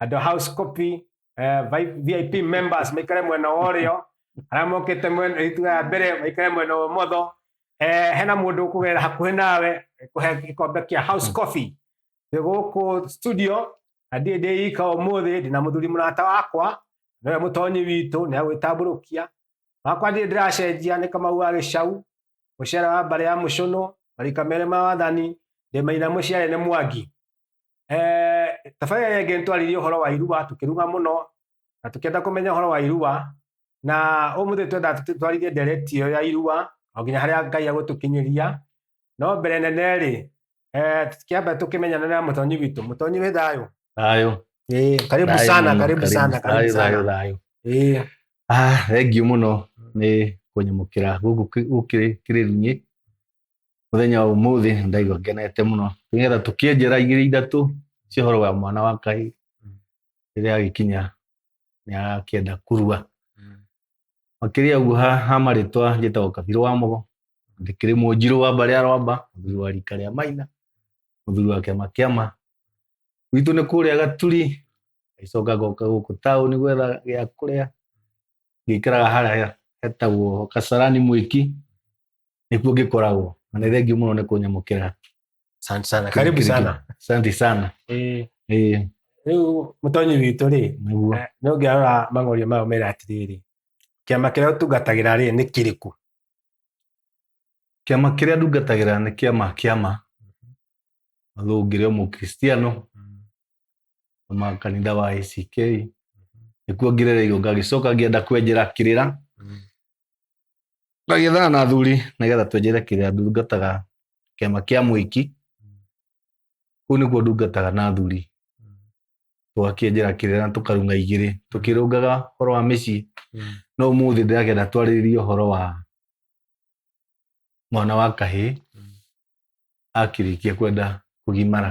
and the house copy eh, vi- vip members maikare mwena wa ũrĩo arĩa mokĩte mwena ituga ya mbere maikare mwena wa ũmotho eh, hena mũndũ ũkũgerera hakuhĩ nawe kũhe gĩkombe kĩa house coffee twĩ gũkũ studio na ndiĩ ndĩ ika ũmũthĩ ndĩna mũthuri mũrata wakwa nĩwe mũtonyi witũ nĩ agwĩtambũrũkia wakwa ndiĩ ndĩracenjia nĩ kamau wa gĩcau mũcere wa mbarĩ ya mũcũnũ marika merĩ ma wathani ndĩmaina mũciarĩ nĩ mwangi Eh, tabarĩra ĩrĩa ĩngĩ nĩtwarĩrie ũhoro wa irua tũkĩruga mũno na tũkĩenda kũmenya ũhoro wa irua na ũmũthĩ twenda twarĩrie ndereti ĩyo ya irua o nginya harĩa ngai agũtũkinyĩria no mbere nene rĩ eh, kĩambe tũkĩmenyana na mũtonyi witũ mũtonyi wĩ thayũ thayũ Eh, karibu Thayũ sana mũno, karibu sana karibu thayũ, thayũ, sana thayũ. Eh, Ah, thengiũ mũno nĩ kũnyamũkĩra gũkũ kĩ- gũkĩrĩrinĩ muthenya wa umuthi ndaigua ngenete muno nigetha tukie njira igiri ithatu cia horo wa mwana wa ngai riria agikinya ni akienda kurua makiria uguo ha ha maritwa njitagwo kabiru wa mugo ndikiri munjiru wa mbari ya rwamba muthuri wa rika ria maina muthuri wa kiama kiama gwitũ nĩ kũrĩa gaturi ngaicoka ngoka gũkũ taũni gwetha gĩa kũrĩa ngĩikaraga harĩa hetagwo kasarani mwĩki nikuo ngĩkoragwo na nĩ thengiũ mũno nĩ kũnyamũkĩra Asante sana karibu sana santi sana Eh, Eh, rĩu mũtonyi witũ rĩ nĩguo eh, nĩ ũngĩarora mang'orio mao mera atĩrĩrĩ kĩama kĩrĩa ũtungatagĩra rĩ nĩ kĩrĩkũ kĩama kĩrĩa ndungatagĩra nĩ kĩama kĩama although ngĩrĩ o mũkristiano kuma kanitha wa ACK nĩkuo ngerereirwo ngagĩcoka ngĩenda kwenjera kĩrĩra Tũgĩthana na athuri nĩgetha twenjere kĩrĩa ndungataga kĩama kĩa mũiki. Kũu nĩkuo ndungataga na athuri. Tũgakĩenjera kĩrĩa na tũkarunga igĩrĩ. Tũkĩrũngaga ũhoro wa mĩciĩ. No ũmũthĩ ndĩrakĩenda twarĩrĩrie ũhoro wa mwana wa kahĩĩ akĩrĩkia kwenda kũgimara.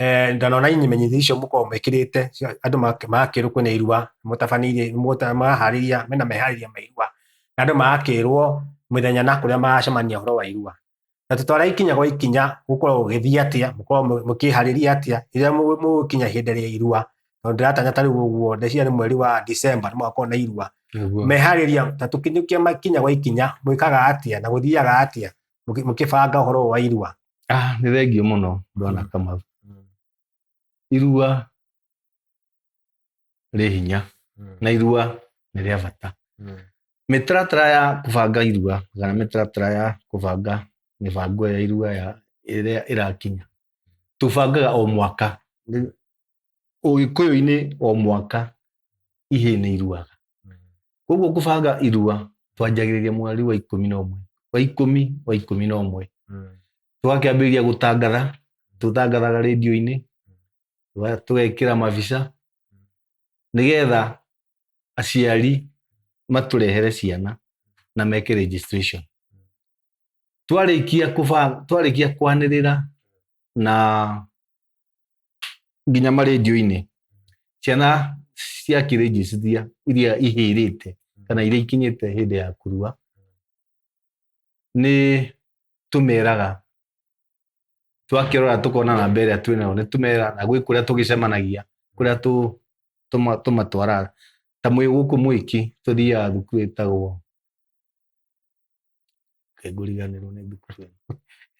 Eh, ndanona imenyithia icio mukorwo mwikirite andu magakirwo kwina irua mutabanire murahariria mena mehariria ma irua na andu magakirwo mithenya na kuria magacemania horo wa irua na tutwara ikinya gwa ikinya gukorwo gugithia atia mukorwo mukihariria atia riria mugukinya ihinda ria irua tondu ndiratanya ta riu uguo ndeciria ni mweri wa December ni mugakorwo na irua mehariria ta tukinyukia makinya gwa ikinya mwikaga atia na guthiaga atia mukibanga horo wa irua Ah, nĩ thengio mũno ndona kama irua rĩ hinya na irua nĩ rĩa bata mĩtaratara ya kũbanga irua kana mĩtaratara ya kũbanga mĩbango ya irua ya ĩrĩa ĩrakinya tũbangaga o mwaka ũgĩkũyũ-inĩ o mwaka ihĩĩ nĩ iruaga koguo ngũbanga irua twanjagĩrĩria mweri wa ikũmi na ũmwe wa ikũmi wa ikũmi na ũmwe Mm. tũgakĩambĩrĩria gũtangatha tũtangathaga rĩndio-inĩ tũga- tũgekĩra mabica nĩgetha aciari matũrehere ciana na meke registration twarĩkia kũba- twarĩkia kwanĩrĩra na nginya marĩnjũ-inĩ ciana cia kĩrĩnjicithia iria ihĩrĩte kana iria ikinyĩte hĩndĩ ya kurua nĩ tũmeraga twakĩrora tũkona namba ĩrĩa twĩ nayo nĩ tũmera na gwĩ kũrĩa tũgĩcemanagia kũrĩa tũ- tũma- tũmatwaraga ta mwĩ gũkũ mwĩki tũthiaga thukuru ĩtagwo Ngai mũriganĩrwo nĩ thukuru ĩno.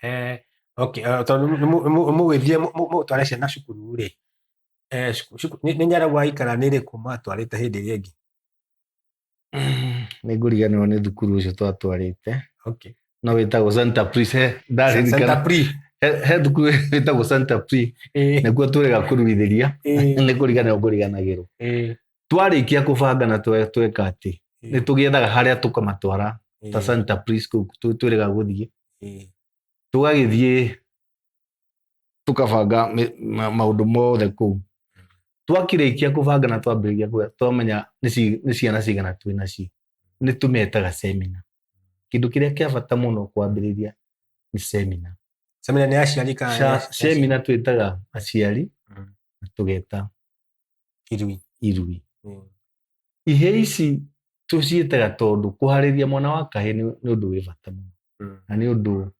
Eh, okay, eh, tondũ nĩ mũ- nĩ mũ- mũgĩthiĩ mũ- mũ- mũtware ciana cukuru rĩ eh, cuku- cuku- nĩ nĩ nyaragũ aikara nĩ rĩkũ matwarĩte hĩndĩ ĩrĩa ĩngĩ nĩ ngũriganĩrwo nĩ thukuru ũcio twatwarĩte okay. no wĩtagwo santa pris he Santa ndaririkana Pri. he he thukuru wĩtagwo santa pri Eh, nĩkuo tũrega kũruithĩria eh, nĩ kũriganĩrwo ngũriganagĩrwo eh. twarĩkia kũbanga na twe- tweka atĩ nĩ ĩĩ, tũgĩethaga harĩa tũkamatwara ta ĩĩ, Santa Prisco tu- twĩrĩga gũthiĩ ĩĩ, tũgagĩthiĩ tũkabanga mĩ- ma- maũndũ mothe kũu twakĩrĩkia kũbanga na twambĩrĩria kũga twamenya nĩ ci- nĩ ciana cigana twĩ nacio nĩ tũmetaga semina kĩndũ kĩrĩa kĩa bata mũno kwambĩrĩria nĩ semina semina nĩ aciari kana nĩ Sha- aci- semina twĩtaga aciari Mm. na tũgeta irui irui Mm. ihĩĩ ici tũciĩtaga tondũ kũharĩria mwana wa kahĩĩ nĩ nĩ ũndũ wĩ bata mũno Mm. na nĩ ũndũ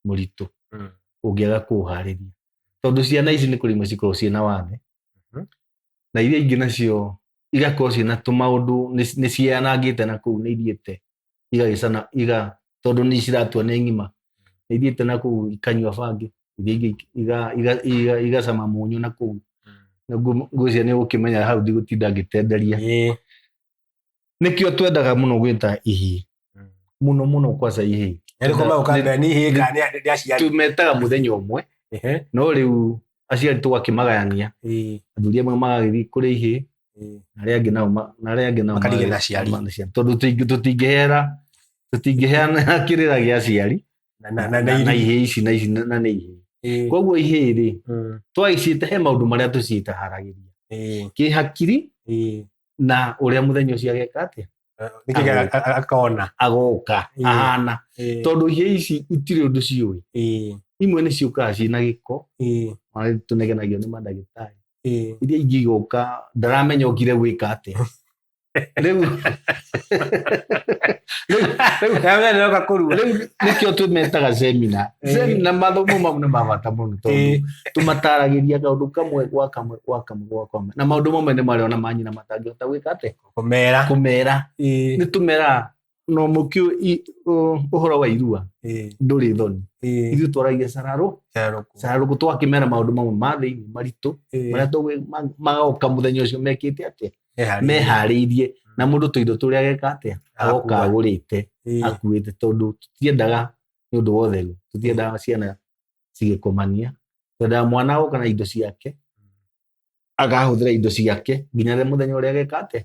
mũritũ Mm. ũngĩaga kũũharĩria tondũ ciana ici nĩ kũrĩ imwe cikoragwo ciĩ na wathe Mhm. na iria ingĩ nacio igakorwo ciĩ na tũmaũndũ nĩ- nĩ cianangĩte na kũu nĩ ithiĩte igagĩcana iga tondũ nĩ ciratua nĩ ng'ima nĩ ithiĩte na kũu ikanyua bangi iria ingĩ iga- iga- iga- igacama mũnyũ na kũu Na ngu- ngwĩciria nĩ ũgũkĩmenya hau ndigũtinda ngĩtenderia Ĩĩ. nĩkĩo twendaga mũno gwĩta ihĩĩ mũno mũno kwaca ihĩĩ Nĩ rĩkoma ũkambia nĩ ihĩĩ kana nĩ- nĩ aciari. tumetaga mũthenya ũmwe Ehe. no rĩu aciari tũgakĩmagayania Ĩĩ, athuri amwe magagĩthiĩ kũrĩa ihĩ ĩĩ. na arĩa angĩ nao ma- na arĩa angĩ nao Makarigĩra magagĩthiĩ aciari. na aciari. tondũ tũtingĩ- tũtingĩheana tũtingĩheana kĩrĩra gĩa aciari Na- na- na- na na irio. ihĩ ici na ici na na nĩ ihĩ Ĩĩ, koguo ihĩ rĩ mm, twagĩciĩte he maũndũ marĩa tũciĩtaharagĩria ĩĩ, kĩhakiri ĩĩ. na ũrĩa mũthenya ũcio ageka atĩa akona agoka ahana tondu hia ici itire undu ciui imwe ni ciukaga cina giko ona tunegenagio ni madagitari iria ingi igoka ndaramenya okire gwika atia riu nikio tumetaga semina semina mathomo mau ni mabata muno tondu tumataragiria kaundu kamwe gwa kamwe gwa kamwe gwa kamwe na maundu mamwe ni maria ona manyina matangihota gwika atia kumera kumera ni tumera no mukio uhoro wa irua nduri thoni ithu twaragia sararu sararu ko twakimera maundu mamwe ma thiini maritu maria tugwi magoka muthenya ucio mekite atia mehariirie mm. na mundu tuindo turia geka atia agoka agurite akuite tondu tutiendaga ni undu wa utheru tutiendaga ciana cigikomania twendaga mwana agoka na indo ciake akahũthĩra indo ciake nginya rĩrĩa mũthenya ũrĩa ageka atĩa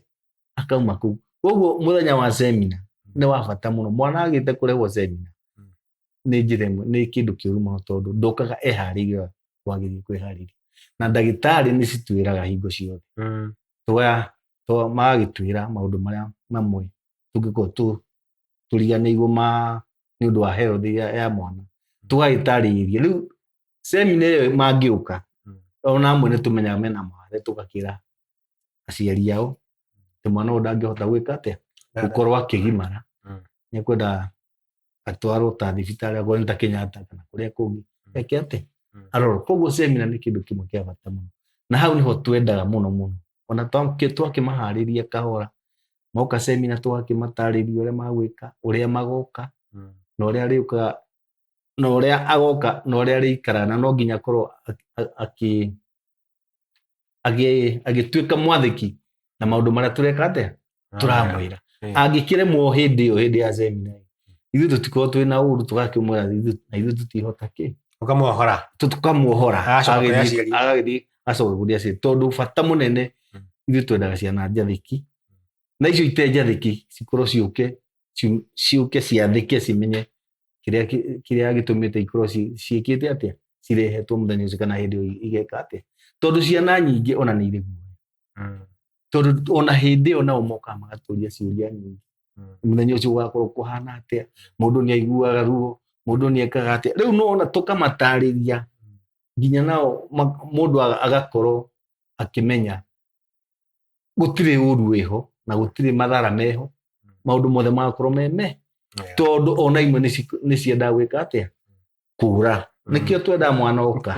akauma kũu koguo mũthenya wa semina nĩ wa bata mũno mwana agĩte kũrehwo semina Mm. nĩ njĩra ĩmwe nĩ kĩndũ kĩũru mũno tondũ ndokaga eharĩirie wagĩrĩire kwĩharĩria na ndagĩtarĩ nĩ citwĩraga hingo ciothe Mm. twa twa- magagĩtwĩra maũndũ marĩa mamwe tũngĩkorwo tũ- tũriganĩirwo ma nĩ ũndũ wa health ya, ya mwana tũgagĩtarĩria rĩu semina ĩyo mangĩũka Mm. ona amwe nĩ tũmenyaga mena mawathe tũgakĩra aciari ao atĩ mwana ũyũ ndangĩhota gwĩka atĩa gũkorwo akĩgimara Mm. nĩ kwenda atwarwo ta thibitarĩ akorwo nĩ ta kenyatta kana kũrĩa kũngĩ Mm. eke atĩ Mm. arorwo koguo semina nĩ kĩndũ kĩmwe kĩa bata mũno na hau nĩho twendaga mũno mũno ona twakĩ- twakĩmaharĩria kahora moka semina twakĩmatarĩria ũrĩa magwĩka ũrĩa magoka Mm. na ũrĩa arĩũkaga na ũrĩa agoka na ũrĩa arĩikara na no nginya korwo agĩtuĩka mwathĩki na maũndũ marĩa tũreka atĩa ah, tũramwĩra angĩkĩremwo hĩndĩ ĩyo hĩndĩ ya semina ithuĩ tũtikorwo twĩ na ũru tũgakĩmwĩra na ithuĩ tũtihota kĩ tũkamuohora tũkamuohora agagĩthiĩ acokaguria aciĩ tondũ bata mũnene hmm. ithuĩ twendaga ciana njathĩki na icio ite njathĩki cikorwo ciũke ciũke ciathĩke cimenye kĩrĩa kĩrĩa gĩtũmĩte ikorwo ciĩkĩte atĩa cirehetwo mũthenya ũcio kana hĩndĩ ĩyo igeka atĩa tondũ ciana nyingĩ ona nĩ irĩ guoya mm. tondũ ona hĩndĩ ĩyo nao mokaga magatũria ciũria nyingĩ mm. mũthenya ũcio ũgakorwo kũhana atĩa mũndũ nĩ aiguaga ruo mũndũ nĩ ekaga atĩa rĩu no ona tũkamatarĩria mm. nginya nao mũndũ agakorwo akĩmenya gũtirĩ ũru wĩho na gũtirĩ mathara meho maũndũ mothe magakorwo me me Yeah. tondũ ona imwe nĩ ci- nĩ ciendaga gwĩka atĩa kũra Mm. nĩkĩo twendaga mwana oka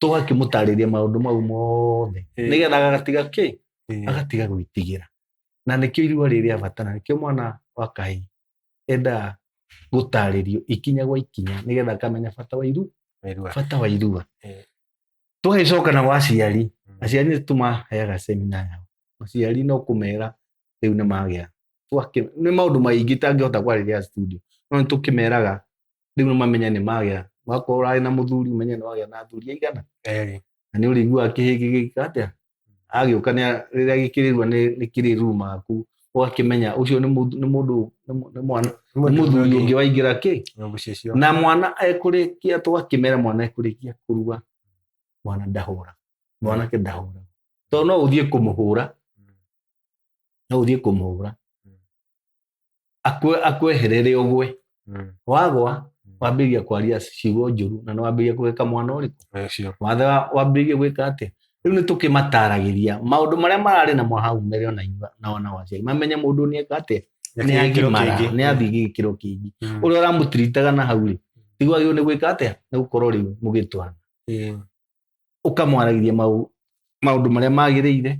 tũgakĩmũtarĩria maũndũ mau mothe Eh. nĩgetha agatiga kĩ Yeah. agatiga gwĩtigĩra na nĩkĩo irua rĩrĩ rĩa bata na nĩkĩo mwana wa kahĩ endaga gũtarĩrio ikinya gwa ikinya nĩgetha akamenya bata wa iru Wĩrua. bata wa irua Eh. tũgĩcoka na gwa aciari aciari nĩ tũmaheaga semina yao aciari no kũmera rĩu nĩ magĩa Twakĩ- nĩ maũndũ maingĩ tangĩhota kwarĩria studio no nĩ tũkĩmeraga rĩu nĩ mamenya nĩ magĩa wakorwo ũrarĩ na mũthuri ũmenye nĩ wagĩa na athuri aigana na nĩ ũrĩiguaga kĩhĩĩ gĩgĩka atĩa agĩũka rĩrĩa gĩkĩrĩrua nĩ kĩrĩru maku ũgakĩmenya ũcio nĩ mũndũ nĩ mũndũ nĩ mwana nĩ mũthuri ũngĩ waingĩra kĩ na mwana ekũrĩkia tũgakĩmera mwana ekũrĩkia kũrua mwana ndahũra mwanake ndahũra tondũ no ũthiĩ kũmũhũra no ũthiĩ kũmũhũra akwe akweherere ũgwe Mm. wagwa Mm. wambĩrĩria kwaria ciugo njũru na nĩ wambĩrĩria kũgeka mwana ũrĩkũ Eh, sure. wathe wa- wambĩrĩrie gwĩka atĩa rĩu nĩ tũkĩmataragĩria maũndũ marĩa mararĩ na mwahau mere ona inyuĩ na ona waciari mamenye mũndũ nĩ eka atĩa nĩ Gĩkĩro agimara kĩngĩ. nĩ athiĩ gĩkĩro kĩngĩ Mm. ũrĩa ũramũtiritaga na hau rĩ tiguo agĩrĩirwo nĩ gwĩka atĩa nĩ gũkorwo rĩu mũgĩtwana Eh, ũkamwaragĩria mau- maũndũ marĩa magĩrĩire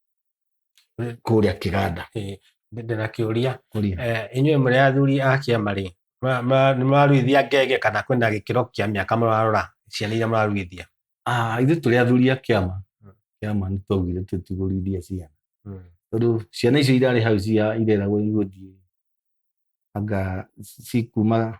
mm. kũrĩa kĩganda ndĩna kĩũria eh, inyuĩ mũrĩ athuri a kĩama rĩ nĩ mũraruithia ngenge kana kwĩna gĩkĩro kĩa mĩaka mũrarora ciana iria mũraruithia ah, ithuĩ tũrĩ athuri a kĩama mm. kĩama nĩ twaugire tũtigũruithia ciana mm. tondũ ciana icio irarĩ hau cia ireragwo igũthiĩ anga cikuma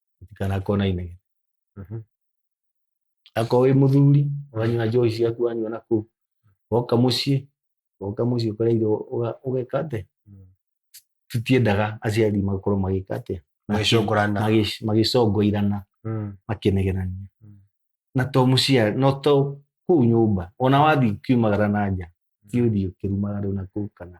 kana kona inegene Mhm. akorwo wĩ mũthuri wanyua njohi ciaku wanyua na kũu woka mũciĩ woka mũciĩ ũkora irio ũga- ũgeka atĩ Mm. tũtiendaga aciari makorwo magĩka atĩ Magĩcongorana. Magĩ- magĩcongoirana Mm. makĩnegenania Mm. na to mũciari no to kũu nyũmba ona wathiĩ kiumagara na nja ti ũthiĩ ũkĩrumaga rĩu na kũu kana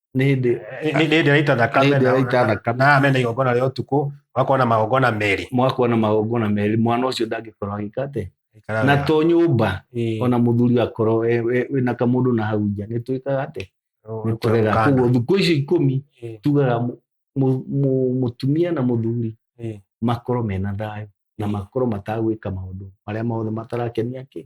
nĩ hĩndĩ Nĩ- nĩ hĩndĩ ĩraita thakame Nĩ hĩndĩ na- ĩraita thakame. na amena igongona rĩa ũtukũ ũgakorwo na magongona merĩ mwakwa na magongona merĩ mwana ũcio ndangĩkorwo agĩka atĩ Ikara na wega. to nyũmba Ĩĩ. ona mũthuri akorwo we- we- wĩna kamũndũ na hau nja nĩ twĩkaga atĩ Ũũ, nĩ tũrega kũgana. koguo thikũ icio ikũmi Ĩĩ. tugaga mũ- mũ- mũ- mũtumia na mũthuri Ĩĩ. makorwo mena thayũ na Ĩĩ. makorwo matagwĩka maũndũ marĩa mothe matarakenia kĩ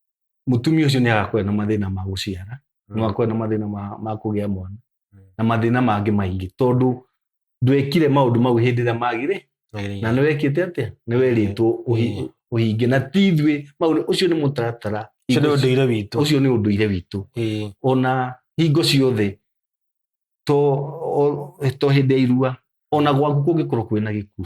mutumia ucio ni agakorwo na mathina ma guciara mm. no akorwo na mathina ma ma kugia mwana mm. na mathina mangi maingi tondu ndwekire maundu mau hindi ria magire na ni wekite atia ni weritwo uhinge na tithwe mau ucio ni mutaratara ucio ni unduire witu ucio ni unduire witu ona hingo ciothe to to hindi ya irua ona gwaku kungikorwo kwina gikuo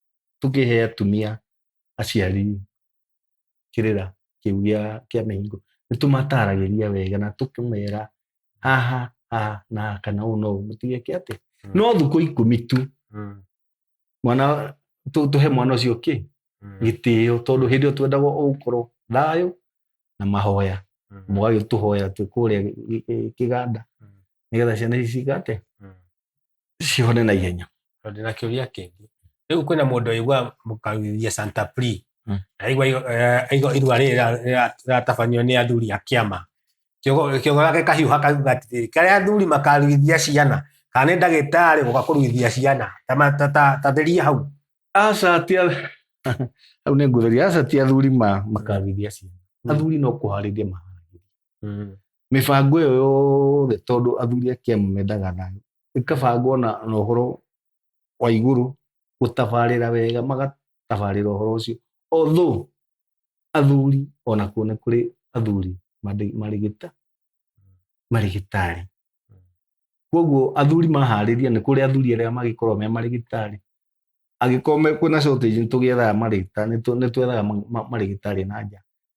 tũkĩhe atumia aciari kĩrĩra kĩu gĩa kĩa mĩhingo nĩ tũmataragĩria wega na tũkĩmera haha haha na haha kana ũũ no ũũ mũtigeke atĩ Mm. no thukũ ikũmi tu Mm. mwana tũ- tũhe mwana ũcio kĩ Mm. gĩtĩo tondũ hĩndĩ ĩyo twendagwo ũgũkorwo thayũ na mahoya Mm. mũgagĩtũhoya twĩ kũrĩa gĩ- gĩ- kĩganda Mm. nĩgetha ciana ici cigate Mm. cihone na ihenya tondũ ndĩna kĩũria kĩngĩ rĩu kwĩna mũndũ aigua mũkagithia santa pri Mm. aigua igo- eh, aigua irua rĩrĩ rĩra- rĩra- rĩratabanio nĩ athuri a kĩama Kĩogo- kĩogo gake kahiũha kauga atĩrĩrĩ karĩa athuri makarugithia ciana kana nĩ ndagĩtarĩ gũka kũrugithia ciana Ta ma- ta- ta- ta theria hau aca ti a- hau nĩ ngũtheria aca ti athuri ma makarugithia ciana athuri no kũharĩria maharagĩria Mm. mĩbango ĩyo yothe tondũ athuri a kĩama mendaga thayũ ĩkabangwo na na ũhoro wa igũrũ gũtabarĩra wega magatabarĩra ũhoro ũcio although athuri ona kuo nĩ kũrĩ athuri marĩ- marĩ gĩta marĩ gĩtarĩ koguo athuri maharĩria nĩ kũrĩ athuri arĩa magĩkorwo me marĩ gĩtarĩ angĩkorwo me- kwĩna shortage nĩ tũgĩethaga marĩgĩtarĩ nĩ twethaga ma- ma- marĩgĩtarĩ na nja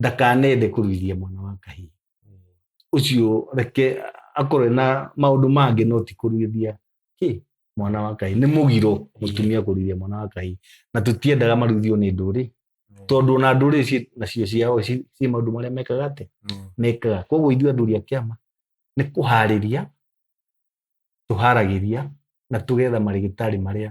ndakanende kũruithia mwana wa kahii ucio reke akorwe na maundu mangi no ti kuruithia ki mwana wa kai ni mugiro mutumia kuruithia mwana wa kai na tutiendaga maruithio ni nduri tondu ona nduri ci nacio ciao ci ci maundu maria mekaga ati mekaga koguo ithuĩ athuri a kĩama nĩ kũharĩria tũharagiria na tũgetha marĩgĩtarĩ marĩa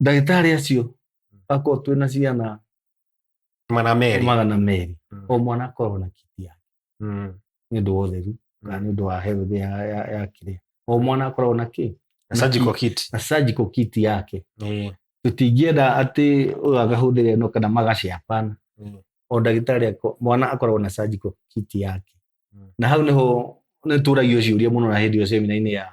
ndagĩtarĩ acio Mm. akorwo twĩ na ciana magana merĩ magana merĩ Mm. o mwana akorwo na kiti yake Mm. nĩ ũndũ wa ũtheru kana nĩ ũndũ wa health ya, ya, ya kĩrĩa o mwana akoragwo na kĩ Na surgical kit na surgical kit yake Eh, tũtingĩenda atĩ ũyũ agahũthĩra ĩno kana magacapana Mm. o ndagĩtarĩ ako- mwana akoragwo na surgical kit yake Mm. na hau nĩho nĩtũragio ciũria mũno na hĩndĩ ĩyo semina-inĩ ya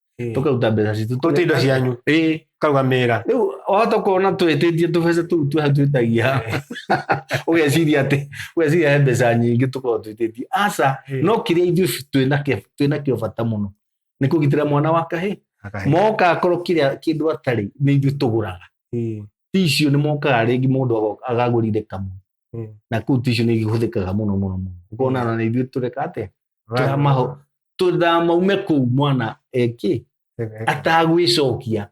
Eh. tũkaruta mbeca citũ kũruta indo cianyu Ĩĩ. kaugamĩra rĩu wahota kuona twĩtĩtie tũbeca tũu twa twĩtagia ũgeciria atĩ ũgeciria he mbeca nyingĩ tũkorwo twĩtĩtie aca Ĩĩ. no kĩrĩa ithuĩ twĩnakĩo- twĩnakĩo bata mũno nĩ kũgitĩra mwana wa kahĩ Akahe. moka akorwo kĩrĩa kĩndũ atarĩ nĩ ithuĩ tũgũraga Ĩĩ. ti icio nĩ mokaga rĩngĩ mũndũ ago- agagũrire kamwe mm. na kå u ticio nä ihå thä kaga må no må no må no å kona na nä ithuä tå reka atä tå ndamaume kå u mwana ekä atagwä cokia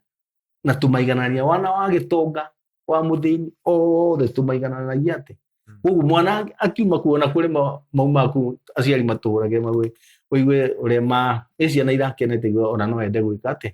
na tå maiganania wana wa gä tonga wa må thä ni othe tå maigananagia atä koguo mwana akiuma kuona kuri mauma ku aciari matũrage magwe ũigue ũrĩa ma ciana irakenete ona no ende gwĩka atĩ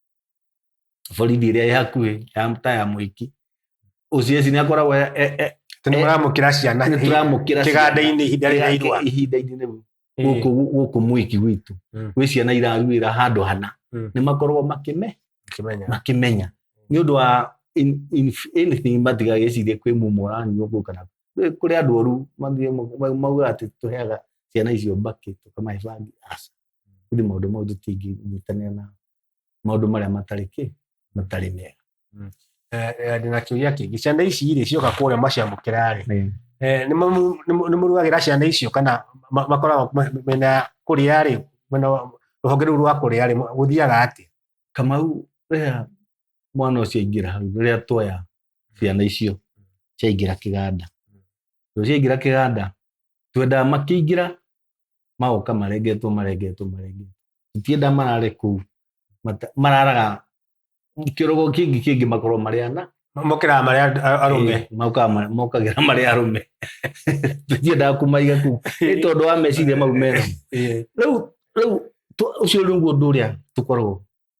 borithi ĩrĩa ĩ hakuhĩ ya ta ya mũiki ũcio eci nĩ akoragwo e- e- e- tene Eh, mũramũkĩra ciana nĩ tũramũkĩra kĩganda-inĩ ihinda rĩrĩa ciana irwa ihinda-inĩ rĩu Eh, gũkũ gũkũ mũiki gwitũ Mm. gwĩ ciana iraruĩra handũ hana Mm. nĩ makoragwo makĩme ũkĩmenya makĩmenya nĩ ũndũ wa in- in- anything matiga gĩcirie kwĩ mumu ũranyua ũguo kana kwĩ- kũrĩ andũ oru mathiĩ ma- maugaga atĩ tũheaga ciana icio mbakĩ tũkamahe bangi aca kuri maundu mau tutinginyitanira na maundu maria matari ki matari mega Eh, eh, ndĩ na kĩũria kĩngĩ ciana ici rĩ cioka kũrĩa maciamũkĩra rĩ Eh, Eh, nĩ mamu- nĩ mu- nĩ mũrugagĩra ciana icio kana ma- makoragwo ma- mena kũrĩa rĩ mwena wa- rũhonge rũu rwa kũrĩa rĩ gũthiaga atĩ kamau rĩrĩa mwana ũcio aingĩra hau rĩrĩa tuoya ciana icio ciaingĩra kĩganda tondũ ciaingĩra kĩganda twendaga makĩingĩra magoka marengetwo marengetwo marengetwo tũtienda marare kũu Mata- mararaga kĩrogo kĩngĩ kĩngĩ makorwo marĩ ana mokĩraga marĩa a- arũme Eh, mokaga ma- mokagĩra marĩ arũme tũtiendaga kũmaiga kũu nĩ tondũ wa meciria mau mena Eh, rĩu rĩu tũ- ũcio nĩguo ũndũ ũrĩa tũkoragwo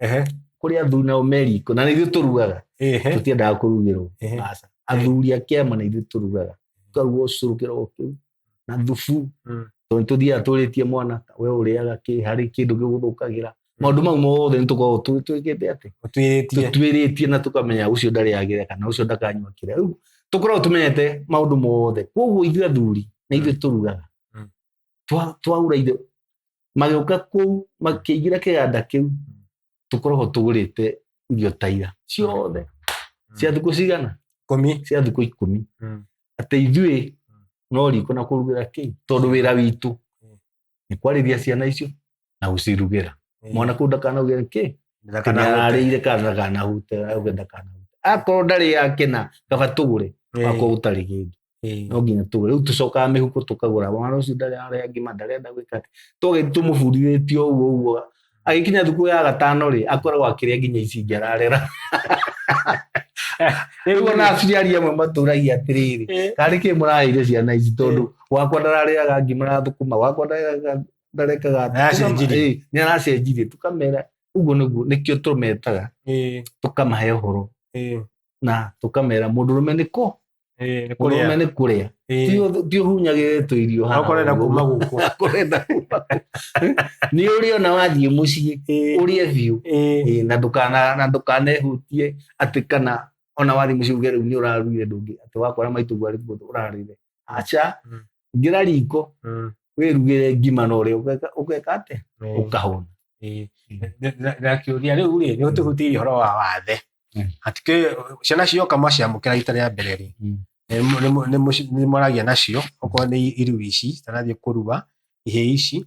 Ehe. kũrĩ athuri nao meriko na nĩ ithuĩ tũrugaga Ehe. tũtiendaga kũrugĩrwo Ehe. Aca. athuri a kĩama na ithuĩ tũrugaga tũkaruga ũcũrũ kĩroko kĩu na thubu Mm. tondũ tũthiaga tũrĩtie mwana we ũrĩaga kĩ harĩ kĩndũ gĩgũthũkagĩra maũndũ mau mothe nĩ tũkoragwo tũ- twĩkĩte atĩ Ũtuĩrĩtie. tũtuĩrĩtie na tũkamenya ũcio ndarĩ agĩra kana ũcio ndakanyua kĩrĩa rĩu tũkoragwo tũmenyete maũndũ mothe koguo ithuĩ athuri na ithuĩ tũrugaga Mm. twaura ithe magĩũka kũu makĩingĩra kĩganda kĩu tũkoragwo tũgũrĩte irio taira ciothe mm. cia thikũ cigana cia thikũ ikũmi mm. atĩ ithuĩ mm. no riko na kũrugĩra kĩi tondũ wĩra witũ nĩ kwarĩria ciana icio na gũcirugĩra mwana kũu ndakanauge kĩ arĩire kana ndakanahute auge ndakanahute akorwo ndarĩ yakena kaba tũgũre akorwo gũtarĩ kĩndũ no nginya tũgũre rĩu tũcokaga mĩhuko tũkagũra mwana ũcio ndarĩ arĩa ngima ndarenda gwĩka atĩ twagĩthi tũmũbundithĩtie ũguo ũguo agĩkinya thukuru ya gatano rĩ akoragwo akĩrĩa nginya ici ingĩ ararera rĩu ona aciari amwe matũragia atĩrĩrĩ karĩ kĩ mũraheire ciana ici tondũ wakwa ndararĩaga ngima na thũkũma wakwa ndararĩaga ndarekaga Na acio Tũkama- njiri. ĩĩ, nĩ aracenjirie tũkamera ũguo nĩguo nĩkĩo tũmetaga Ĩĩ, tũkamahe ũhoro ĩĩ, na tũkamera mũndũ rũme nĩ kũ ĩĩ, nĩ mũndũ kũrĩa. rũme nĩ kũrĩa Ĩĩ. Ti ũth- ti ũhunyagĩre tũ irio haha Akorenda ũguo. kuma gũkũ. Akorenda kuma gũkũ. nĩ ũrĩa ona wathiĩ mũciĩ Ĩĩ, ũrĩe biũ ĩĩ, Ĩĩ, na ndũkana na ndũkanehutie atĩ kana ona wathiĩ mũciĩ uge rĩu nĩ ũraruire ndũngĩ atĩ wakora maitũguo arĩ kuo ũrarĩre aca Mm. ingĩra riko Mm. wĩrugĩre ngima na ũrĩa ũgeka- ũgeka atĩ Eh, ũkahũna eh, na- na kĩũria rĩu rĩ nĩ ũtũhutirie ũhoro wa wathe Mm. hatikĩ ciana cioka maciamũkĩra rita rĩa mbere rĩ Mm. nĩ mũ- nĩ mũ- nĩ mũci- nĩ mwaragia nacio okorwo nĩ iru ici tanathiĩ kũrua ihĩ ici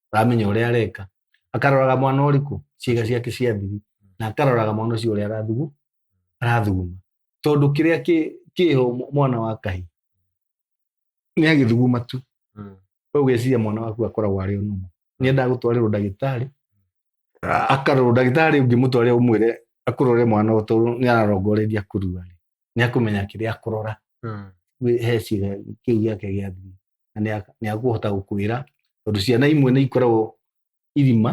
aramenya ũrĩa areka akaroraga mwana ũrĩkũ ciĩga ciake cia thiri na akaroraga mwana ũcio ũrĩa arathugu arathuguma tondũ kĩrĩa kĩ- kĩho mw- mwana wa kahi nĩ agĩthuguma tu Mm. we ũgeciria mwana waku akoragwo arĩ ũnũmu nĩ endaga gũtwarĩrwo ndagĩtarĩ A- akarorwo ndagĩtarĩ ũngĩmũtwarĩra ũmwĩre akũrore mwana ũyũ tondũ nĩ ararongoreria kũrua nĩ akũmenya kĩrĩa akũrora Mm. wĩ- he ciĩga kĩu gĩake gĩa thiri na nĩ a- nĩ akũhota gũkwĩra tondũ ciana imwe nĩ ikoragwo irima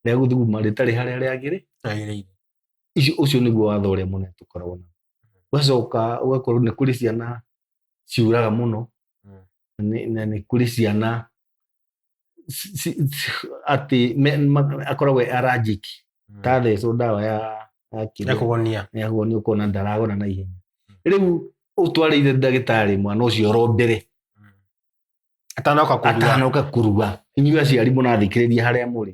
rĩa gũthuguma rĩtarĩ harĩa rĩagĩrĩ Agĩrĩire. icio ũcio nĩguo watho ũrĩa mũnene tũkoragwo na ũgacoka ũgakorwo nĩ kũrĩ ciana ciuraga mũno Mm. na nĩ- na nĩ kũrĩ ciana atĩ akorwo we aranjĩki hmm. ta thecwo ndawa ya ya kũgonia ya kũgonia ũkona ndaragona na ihenya hmm. rĩu ũtwarĩire ndagĩtarĩ mwana ũcio oro mbere hmm. atanoka kurua atanoka kurua inyuĩ aciari mũrathikĩrĩria harĩa mũrĩ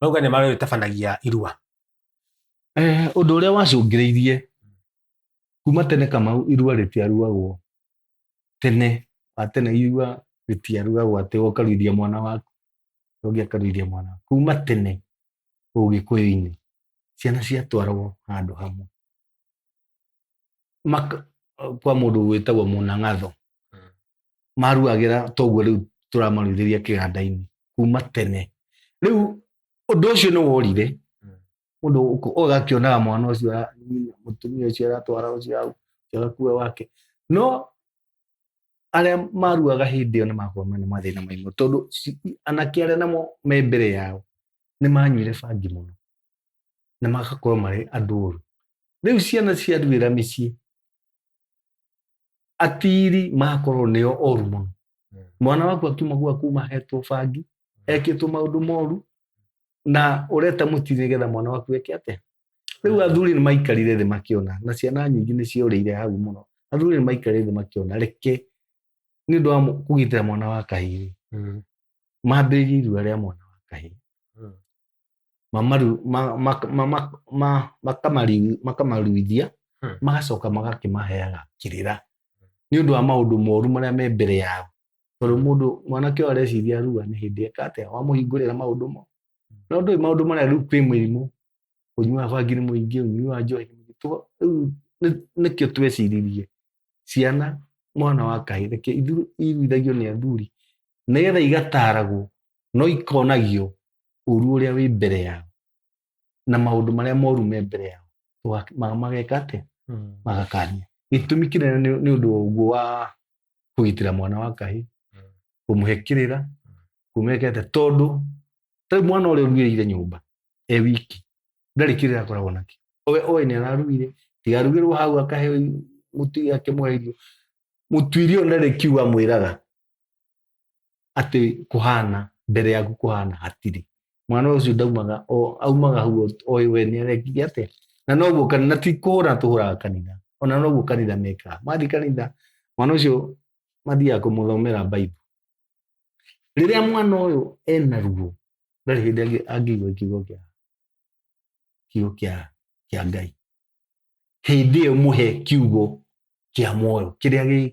mauga nĩ marĩ tabanagia irua Eh, ũndũ ũrĩa wacũngĩrĩirie kuma tene kamau irua rĩtiaruagwo tene wa tene irua rĩtiaruagwo atĩ ũkaruithia mwana waku ũngĩ akaruithia mwana waku kuma tene ũgĩkũyũ-inĩ ciana ciatwaragwo handũ hamwe Maka, kwa mũndũ wĩtagwo mũnang'atho maruagĩra toguo rĩu tũramaruithĩria kĩganda-inĩ kuma tene rĩu ũndũ ũcio nĩ worire mũndũ ũk- ũgakĩonaga mwana ũcio ara- nyina- mũtumia ũcio aratwara ũcio hau ũcio agakua wake no arĩa maruaga hĩndĩ ĩyo nĩ makorwo mena mathĩna maingĩ tondũ ci- anake arĩa namo me mbere yao nĩ manyuire bangi mũno na magakorwo marĩ andũ ũru rĩu ciana ciaruĩra mĩciĩ atiri makorwo nĩo oru mũno Mm. mwana waku akiuma gwa kuma hetwo bangi ekĩtwo maũndũ moru na ũreta mũtiri nĩgetha mwana waku eke atĩa rĩu athuri nĩ maikarire thĩ makĩona na ciana nyingĩ nĩ ciorĩire hau mũno athuri nĩ maikarire thĩ makĩona reke nĩ ũndũ wa mũ- kũgitĩra mwana wa kahĩĩ Mm. mambĩrĩrie irua rĩa mwana wa kahĩĩ Mm. mamaru ma- ma- ma- ma- ma- makamari- makamaruithia Hmm. magacoka magakĩmaheaga kĩrĩra nĩ ũndũ wa maũndũ moru marĩa me mbere yao tondũ mũndũ mwanake ũyũ areciria rua nĩ hĩndĩ eka atĩa wamũhingũrĩra maũndũ mo no ndũĩ maũndũ marĩa rĩu kwĩ mĩrimũ ũnyui wa bangi nĩ mũingĩ ũnyui wa njohi nĩ mũingĩ. Tũ- rĩu nĩ- nĩkĩo tweciririe ciana mwana wa kahĩ reke ithu- iruithagio nĩ athuri nĩgetha igataragwo no ikonagio ũru ũrĩa wĩ mbere yao na maũndũ marĩa moru me mbere yao tũga- ma- mageka atĩ Mm. magakania gĩtũmi kĩnene nĩ nĩ ũndũ wa ũguo wa kũgitĩra mwana wa kahĩ kũmũhe kĩrĩra kũmwekete tondũ tarĩu mwana ũrĩa ũruĩrĩire nyũmba e wiki ndarĩ kĩrĩra akoragwo nakĩo owe oĩ nĩ araruire tigarugĩrwo hau akahe mũtu akĩmũhe irio mũtuiri ũyũ ndarĩ kiugo amwĩraga atĩ kũhana mbere yaku kũhana hatirĩ mwana ũcio ndaumaga o- aumaga hau oĩ we nĩ arekire atĩa na noguo kani- na ti kũhũra tũhũraga kanitha ona noguo kanitha mekaga mathiĩ kanitha mwana ũcio mathiaga kũmũthomera baibu rĩrĩa mwana ũyũ ena ruo ndarĩ hĩndĩ angĩ- angĩigua kiugo kĩa kiugo kĩa kĩa ngai hĩndĩ ĩyo mũhe kiugo kĩa muoyo kĩrĩa gĩ-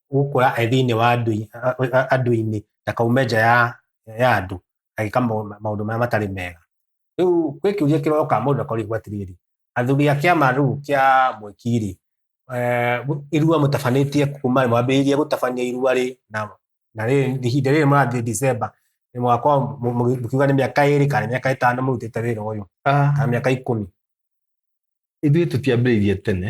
gũkũra e thĩinĩ wa andũ-inĩ na kaume nja ya andũ agĩka maũndũ marĩa matarĩ mega. Rĩu gwĩ kĩũria kĩroka mũndũ akorirwo atĩrĩrĩ, athuri a kĩama rĩu kĩa mwĩki rĩ, eh, irua mũtabanĩtie kuma mwambĩrĩirie gũtabania irua rĩ na ihinda rĩrĩ mũrathiĩ December nĩ mwaka mũkiuga nĩ mĩaka ĩrĩ kana mĩaka ĩtano mũrutĩte wĩra ũyũ ah. kana mĩaka ikũmi ithuĩ tũtiambĩrĩirie tene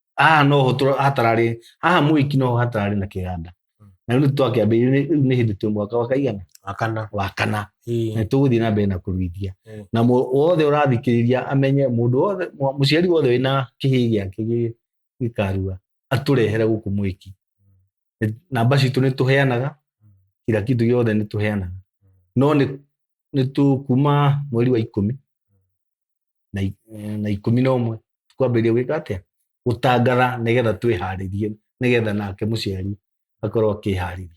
haha no ho tũra- hatararĩ haha mũiki no ho hatararĩ na kĩganda Mm. na rĩu twakĩambĩrĩria rĩu nĩ hĩndĩ twĩ mwaka wa kaigana wakana wa kana Ii. na tũgũthiĩ na mbere na kũruithia Mm. na mũ- wothe ũrathikĩrĩria amenye mũndũ wothe mwa- mũciari wothe wĩna kĩhĩĩ gĩake gĩ- gĩkarua atũrehere gũkũ mwĩki Nĩ- namba citũ nĩ tũheanaga kira kitu gĩothe nĩ tũheanaga no nĩ nĩ tũ- kuma mweri wa ikũmi na i- eh, na ikũmi na ũmwe twambĩrĩria gwĩka atĩa gũtangatha nĩgetha twĩharĩrie nĩgetha nake mũciari akorwo akĩharĩria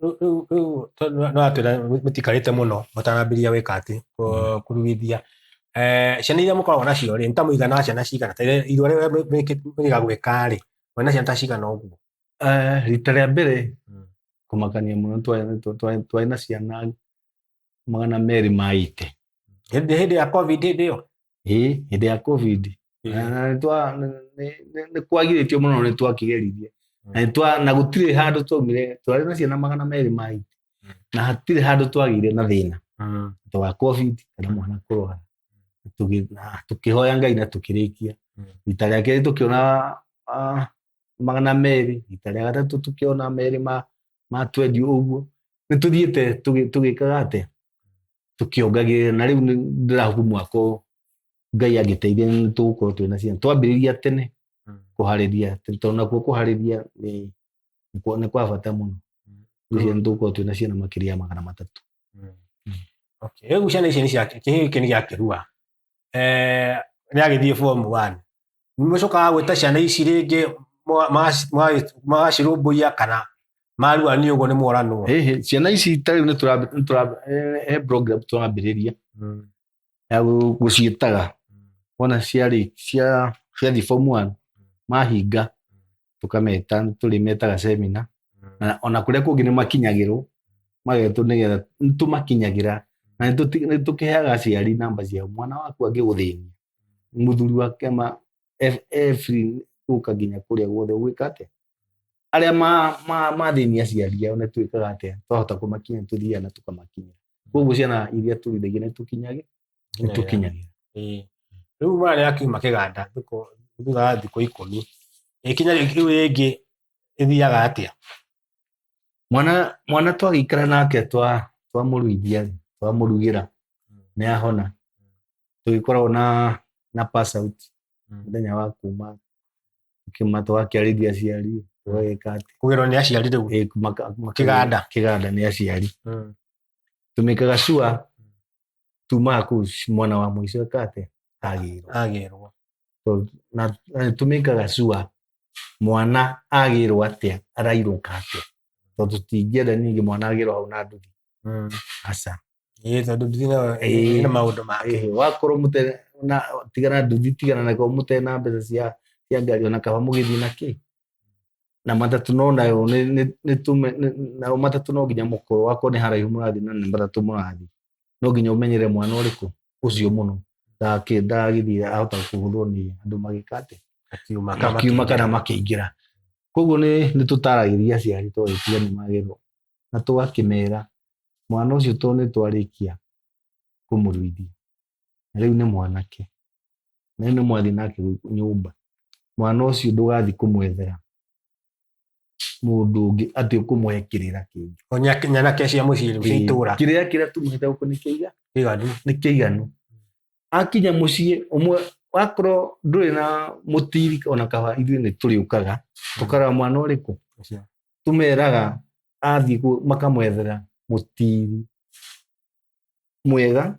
Rĩu- rĩu- rĩu to- no- no atwĩra mũtikarĩte mũno mũtanambĩria gwĩka atĩ kũ- kuruithia Eh, ciana iria mũkoragwo nacio rĩ nĩ ta mũigana wa ciana cigana ta iria- irua rĩrĩa mwĩ- mwĩkĩ- mwĩga gwĩka rĩ mwĩ na ciana ta cigana ũguo Eh, rita rĩa mbere Mm. kũmakania mũno twarĩ- twa- twa- twarĩ na ciana magana merĩ ma ite hĩndĩ hĩndĩ ya covid hĩndĩ ĩyo ĩ hĩndĩ ya covid Na- na nĩ twa- nĩ- nĩ- nĩ- nĩ kwagirĩtio mũno nĩ twakĩgeririe na nĩ twa- na gũtirĩ handũ twaumire twarĩ na ciana magana merĩ ma ite na hatirĩ handũ twagire na thĩna Mm. to wa covid kana mwana kũrwara Tũgĩ- na tũkĩhoya ngai na tũkĩrĩkia Mm. rita rĩa kerĩ tũkĩona ah, magana merĩ rita rĩa gatatũ tũkĩona merĩ ma, ma twendi ũguo nĩ tũthiĩte tũgĩ- tũgĩkaga atĩ tũkĩongagĩrĩra na rĩu nĩ- ndĩrahuku mwaka ũyũ ngai angĩteithia nĩ tũgũkorwo twĩ na ciana twambĩrĩria tene kũharĩria tene, tondũ nakuo kũharĩria nĩ nĩ kwa- nĩ kwa bata mũno ngwĩciria nĩ tũgũkorwo twĩ na ciana makĩria ya magana matatũ Okay. Rĩu ciana ici nĩ cia- kĩhĩĩ gĩkĩ nĩ gĩakĩrua Eh, rĩagĩthiĩ form one nĩmũcokaga gwĩta ciana ici rĩngĩ mwa- magaci- magaci- magacirũmbũiya kana marua nĩ ũguo nĩ moranwo Hĩhĩ, ciana ici ta rĩu nĩtũrambi- nĩtũrambi- he- he program tũrambĩrĩria ya gũ- gũciĩtaga wona ciarĩ cia ciathiĩ form one mahinga tũkameta nĩ tũrĩmetaga semina na ona kũrĩa kũngĩ nĩ makinyagĩrwo magetwo nĩgetha nĩ tũmakinyagĩra na nĩ tũti- nĩ tũkĩheaga aciari namba ciao mwana waku angĩgũthĩnia mũthuri wa kĩama e- e free gũka nginya kũrĩa guothe gwĩka atĩa arĩa ma- ma- mathĩnia aciari ao nĩ twĩkaga atĩa twahota kũmakinya tũthiaga na tũkamakinya koguo ciana iria tũrĩithagia nĩ tũkinyagĩ rĩu mararĩ akiuma kĩganda thutha wa thikũ ikũmi ikinya rĩu rĩngĩ ĩthiaga atĩa mwana mwana twagĩikara nake twa twamũruithia twamũrugĩra hmm. nĩ ahona tũgĩkoragwo na na pass out hmm. mũthenya wa kuma kĩma twakĩarĩria aciari tũgagĩka atĩ kũgerwo nĩ aciari rĩu kĩganda kĩganda nĩ aciari hmm. tumĩkaga cua tuma ku mwana wa muico ekate agirwo agirwo so na na tumikaga sure mwana agirwo atia arairuka atia to tutingienda ningi mwana agirwo hau na nduthi mm. aca ĩĩ tondũ nduthi nayo Ĩĩ. ĩna maũndũ make Eh, wakorwo mute na tigana nduthi tigana na kwa mute na mbeca cia cia ngari ona kaba mugithii na ki na matatũ no nayo nĩ- nĩ- nĩ tume- nĩ- nayo matatũ no nginya mũkorwo wakorwo nĩ haraihu mũrathiĩ na nĩ matatũ mũrathiĩ no nginya ũmenyere mwana ũrĩkũ ũcio mũno ndagakĩ- ndagagĩthiĩ ahota kũhũthwo nĩ andũ magĩka atĩ Makiuma kana makiuma kana makĩingĩra koguo nĩ nĩ tũtaragĩria aciari twagĩtiga nĩ magĩrwo na tũgakĩmera mwana ũcio to nĩ twarĩkia kũmũruithia na rĩu nĩ mwanake na nĩ mwathi nake nyũmba mwana ũcio ndũgathi kũmwethera mũndũ ũngĩ atĩ ũkũmũhe kĩrĩra kĩngĩ O nya- nyanake cia mũciĩ rĩu cia itũũra kĩrĩra kĩrĩa tumĩte gũkũ nĩ kĩiga kĩiganu nĩ kĩiganu akinya mũciĩ ũmwe wakorwo ndũrĩ na mũtiri ona kaba ithuĩ nĩ tũrĩũkaga tũkaraga mwana ũrĩkũ Ũcio. tũmeraga athiĩ kũ- makamwethera mũtiri mwega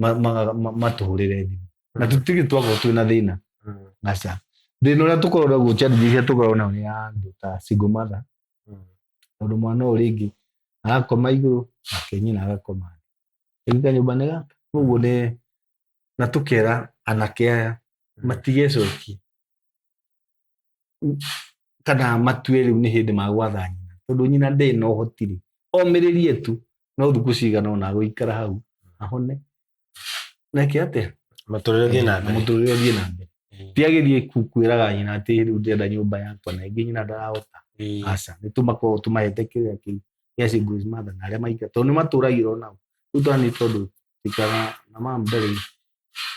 ma- ma- ma- matũhũrĩre thimũ na tũtige twakorwo twĩ na thĩna Mm. aca thĩna ũrĩa tũkorwo naguo challenge iria tũkoragwo nayo nĩ ya andũ ta single mother Mm. tondũ mwana ũyũ rĩngĩ agakoma igũrũ nake nyina agakoma thĩ rĩu kanyũmba nĩ gaka koguo nĩ na tũkera anake aya matigecokie kana matue rĩu nĩ hĩndĩ magwatha nyina tondũ nyina ndĩ na ũhotiri omĩrĩrie tu no thukũ cigana ona gũikara hau ahone neke atĩa matũrĩre thiĩ na mbere mũtũrĩre thiĩ na mbere Mm. ti agĩthiĩ ku- kwĩraga nyina atĩ rĩu ndĩrenda nyũmba yakwa na ĩngĩ nyina ndarahota Mm. aca nĩ tũmakorwo tũmahete kĩrĩa kĩu gĩa singles mother na arĩa maika tondũ nĩ matũragĩra o nao rĩu twana nĩ tondũ tũikaraga na mam ndarĩ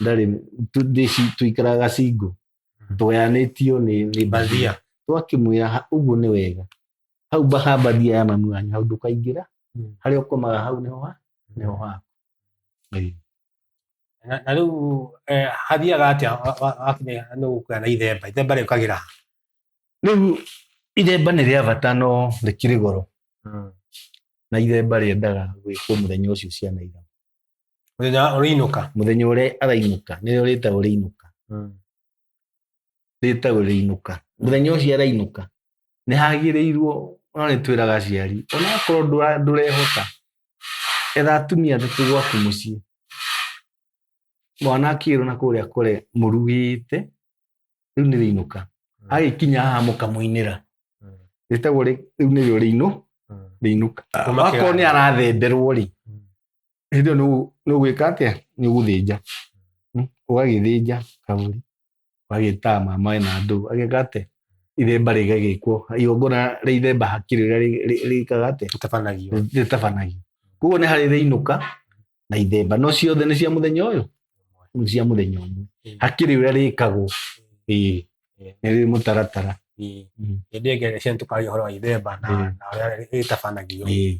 ndarĩ tu- ndĩci- tũikaraga single tweanĩtio nĩ nĩ mbathia twakĩmwĩra "Ha- ũguo nĩ wega hau mbaha mbathia ya mami wanyu hau ndũkaingĩra Mm. harĩa ũkomaga hau nĩho ha nĩho haku Ĩĩ. na na rĩu eh, hathiaga atĩa wa- wa- wakinya nĩ gũkuya na ithemba ithemba rĩũkagĩra ha? rĩu ithemba nĩ rĩa bata no rĩkĩrĩ goro na ithemba rĩendaga gwĩkwo mũthenya ũcio ciana ira Mũthenya wa- ũrĩinũka. mũthenya ũrĩa arainũka nĩrĩo rĩtagwo rĩinũka rĩtagwo rĩinũka mũthenya ũcio arainũka nĩ hagĩrĩirwo no nĩ twĩraga aciari onakorwo ndũra- ndũrehota etha atumia atatũ gwaku mũciĩ mwana akĩrwo na kũrĩa kũre mũrugĩte rĩu nĩ rĩinũka agĩkinya haha mũkamũinĩra Mm. rĩtagwo rĩ- rĩu nĩrĩo rĩinũ rĩinũka Kuma akorwo nĩ kĩganda. arathemberwo rĩ Mm. hĩndĩ ĩyo nĩ- nĩ ũgwĩka atĩa nĩ ũgũthĩnja Mm, ũgagĩthĩnja kabũri ũgagĩtama maĩ na ndũ ageka atĩa ithemba rĩgagĩkwo igongona rĩa ithemba hakiri rĩrĩa rĩ- rĩ- rĩkaga atĩa Ũtabanagio. rĩtabanagio koguo nĩ harĩ rĩinũka na ithemba no ciothe nĩ cia mũthenya ũyũ nĩ cia mũthenya ũmwe hakiri ũrĩa rĩkagwo ĩĩ nĩ rĩ mũtaratara Ĩĩ. Mm. Hĩndĩ ĩngĩ nĩ cia tũkaria ũhoro wa ithemba na Ĩĩ. na ũrĩa rĩtabanagio. Ĩĩ.